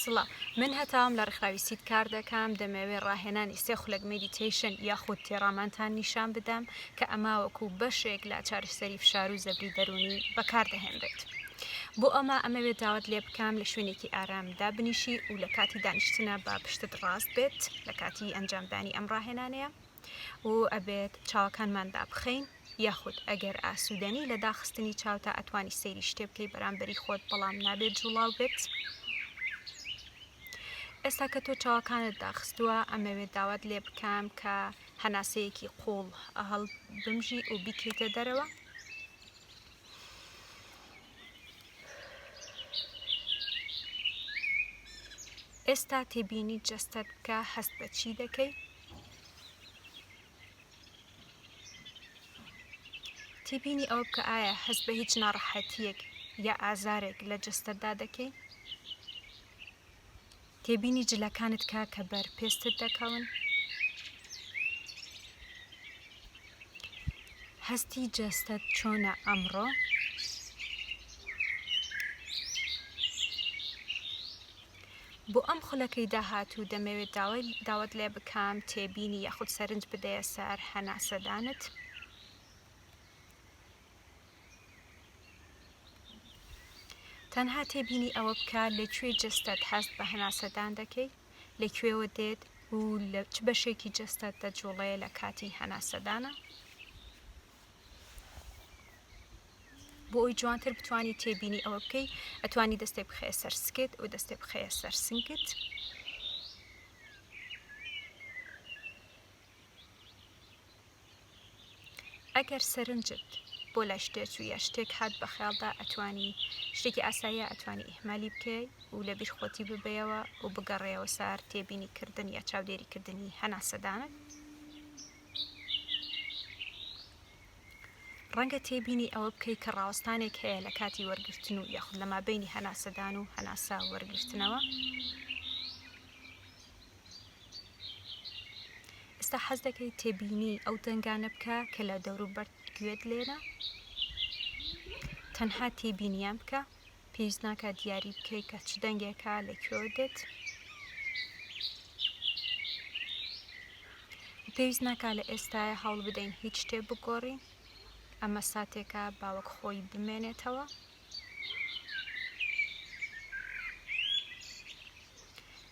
سڵاو من هەتاوم لە ڕێکخراوی سید کار دەکەم دەمەوێ ڕاهێنانی سێ خولەک مێدیتەیشن یاخود تێڕامانتان نیشان بدەم کە ئەمە وەکو بەشێک لە چارەسەری فشار و زەبری دەروونی بەکاردەهێنرێت بۆ ئەمە ئەمەوێت داوات لێ بکەم لە شوێنێکی ئارام دابنیشی و لە کاتی دانیشتنە با پشتت ڕاست بێت لە کاتی ئەنجامدانی ئەم ڕاهێنانەیە و ئەبێت چاوەکانمان دابخەین یاخود ئەگەر ئاسوودەنی لە داخستنی چاوتا ئەتوانی سەیری شتێ بکەی بەرامبەری خۆت بەڵام نابێت جوڵاو بێت ئێستا کە تۆ چاوەکانت داخستووە ئەمەوێت داوات لێ بکەم کە هەناسەیەکی قوڵ هەڵ بمژی و بیکەیتە دەرەوە ئێستا تێبینی جەستەت بکە هەست بە چی دەکەی تێبینی ئەوە بکە ئایا هەست بە هیچ ناڕەحەتیەک یا ئازارێک لە جستتدا دەکەی تێبینی جلەکانت کا کە بەر پێستت دەکەون هەستی جەستەت چۆنە ئەمڕۆ بۆ ئەم خولەکەی داهاتوو دەمەوێت داوای داوات لێ بکەم تێبینی یاخود سەرنج بدەیە سەر هەناسەدانت. تەنها تێبینی ئەوە بکە لە کوێی جەستەت هەست بە هەناسەدان دەکەی، لە کوێوە دێت و لە چ بەشێکی جەستەت دەجوڵێ لە کاتی هەناسەدانا. بۆ ئەوی جوانتر بتانی تێبینی ئەوە بکەی ئەتوانی دەستێک بخەیە سەر سکت و دەستێک بخەیە سەر سنگت ئەگەر سەرنجت بۆ لای شتێک و یا شتێک هات بە خیاڵدا ئەتوانی شتێکی ئاساییە ئەتوانی ئیهمالی بکەی و لە بیرخۆتی ببەیەوە و بگەڕێەوە سار تێبینی کردن یا چاودێریکردنی هەناسەدانت ڕەنگە تێبینی ئەوە بکەی کە ڕاوەستانێک هەیە لە کاتی وەرگرتن و یاخود لە مابینی هەناسەدان و هەناسە وەرگرتنەوە ئێستا حەز دەکەی تێبینی ئەو دەنگانە بکە کە لە دەوروبەر گوێت لێنە تەنها تێبینیان بکە پێویست ناکات دیاری بکەیت کە چ دەنگێکە لە کوێ دێت پێویست ناکا لە ئێستاە هەوڵ بدەین هیچ شتێ بگۆڕین ئەمە ساتێکە باوەک خۆی بمێنێتەوە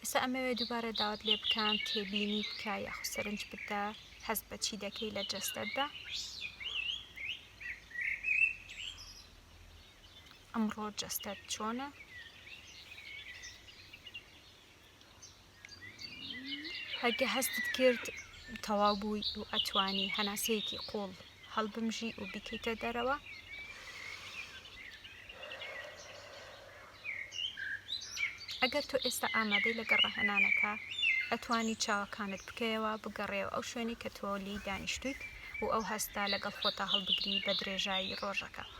ئێستا ئەمەوێ دووبارە داوت لێ بکەم تێبینی بکە یاخ سەرنج بدە هەست بە چی دەکەی لە جەستەتدا ئەمڕۆ جەستەت چۆنە؟ ئەگە هەستت کرد تەواو بووی و ئەتوانی هەناسەیەکی قوڵ هەڵبمژی و بیکەیتە دەرەوە ئەگەر تۆ ئێستا ئامادەی لەگە ڕەهێنانەکە ئەتوانی چاوەکانت بکەیەوە بگەڕێەوە ئەو شوێنی کە تۆ لی دانیشتویت و ئەو هەستا لەگەڵ خۆتا هەڵبگری بە درێژایی ڕۆژەکە.